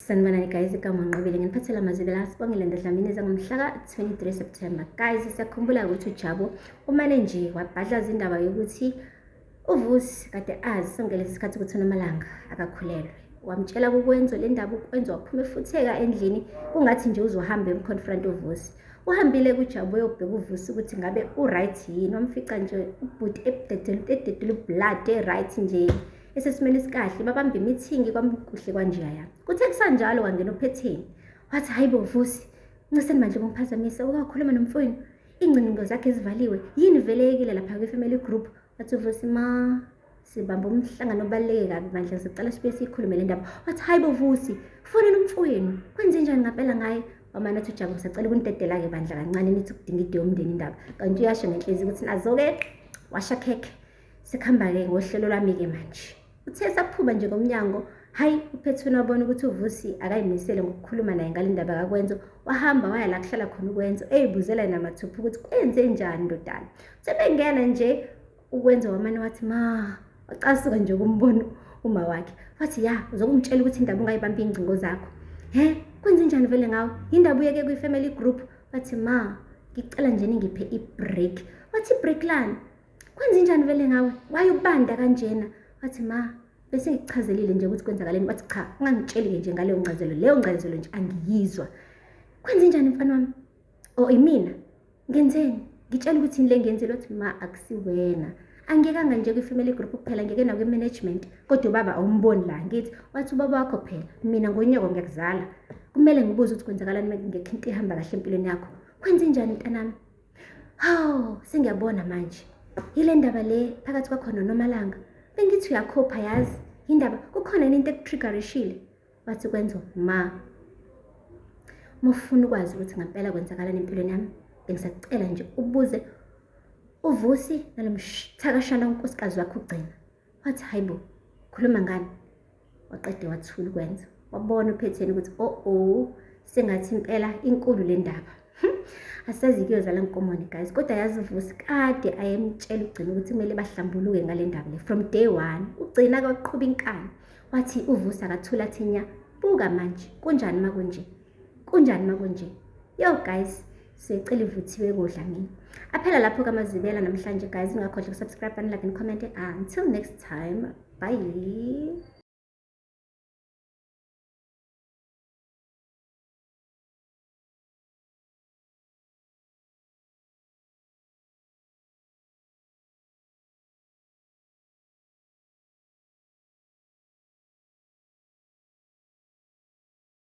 Sanibonani guys, igama Nqobile nginiphathela amazwi la sibongile ndodlamini zangomhlaka 23 September. Guys, siyakhumbula ukuthi uJabu umane nje wabhadlaza indaba yokuthi uVusi kade azi sonke lesi sikhathi ukuthi uNomalanga akakhulelwe. Wamtshela kukwenzo le ndaba ukwenza waphume futheka endlini kungathi nje uzohamba emconfront uVusi. Uhambile kuJabu uyobheka uVusi ukuthi ngabe uright yini, wamfica nje ubhuti ebudedela ubudedela ublood e-right nje. esesimeni esikahle babambe imithingi kwamukuhle kwanjeya yami kuthe kusanjalo wangena ophetheni wathi hayi bo vusi nceseni manje kungiphazamisa ukakhuluma nomfowenu iingcingo zakhe zivaliwe yini vele yekile lapha kwi-family group wathi uvusi ma sibamba umhlangano obaluleke kabi bandla sicela sibuye siyikhulume le ndaba wathi hayi bo vusi kufonela umfowenu kwenze njani ngapela ngaye wamane athi ujabu sacela ukunidedela-ke bandla kancane nithi kudinga ide yomndeni indaba kanti uyasho ngenhlezi ukuthi nazo-ke washa khekhe Sekuhamba-ke ngohlelo lwami-ke manje. Uthe saphuba nje ngomnyango, hhayi uphethweni wabona ukuthi uvusi akayimisele ngokukhuluma naye ngale ndaba kakwenzo wahamba waya la kuhlala khona ukwenzo eyibuzela yena mathupha ukuthi kwenze njani ndodana uthe bengena nje ukwenza wamane wathi ma wacasuka nje kumbono uma wakhe wathi ya uzokungitshela ukuthi indaba ungayibambi iy'ngcingo zakho he kwenze njani vele ngawo yindaba uyeke kwi-family group wathi ma ngicela nje ningiphe i-break wathi i-break lani kwenzenjani vele ngawe wayobanda kanjena wathi ma bese ngikuchazelile nje ukuthi kwenzakaleni wathi cha ungangitsheli-ke nje ngaleyo ngcazelo leyo ngcazelo nje angiyizwa kwenzenjani mfana wami o oh, imina ngenzeni ngitshela ukuthi yini le ngenzile wathi ma akusiwena angiyekanga nje kwi-family group kuphela ngeke nakwi-management kodwa ubaba awumboni la ngithi wathi ubaba wakho phela mina ngonyoko ngiyakuzala kumele ngibuze ukuthi kwenzakalani ngekho into ihamba kahle empilweni yakho kwenze njani mntanami Hawu, sengiyabona manje. Yile ndaba le phakathi kwakho noNomalanga. Bengithi uyakhopha yazi. Yindaba kukhona yini into ekutriggerishile? Wathi kwenzo ma. Uma ufuna ukwazi ukuthi ngampela kwenzakalani empilweni yami, bengisacela nje ubuze uVusi nalomthakashana unkosikazi wakho ugcina. wathi hayi bo khuluma ngani waqede wathula ukwenza wabona uphetheni ukuthi o o sengathi impela inkulu le ndaba hm, asazi kuyozala nkomoni guys kodwa yazivusi kade ayemtshela ugcina ukuthi kumele bahlambuluke ngale ndaba le from day one ugcina kaqhuba inkani wathi uvusa akathula thinya buka manje kunjani uma kunje Kunjani makunje? Yo guys, siyecela ivuthiwe kodla mina. Aphela lapho kamazibela namhlanje guys, ungakhohlwa ukusubscribe and like and comment. Until next time. Bye.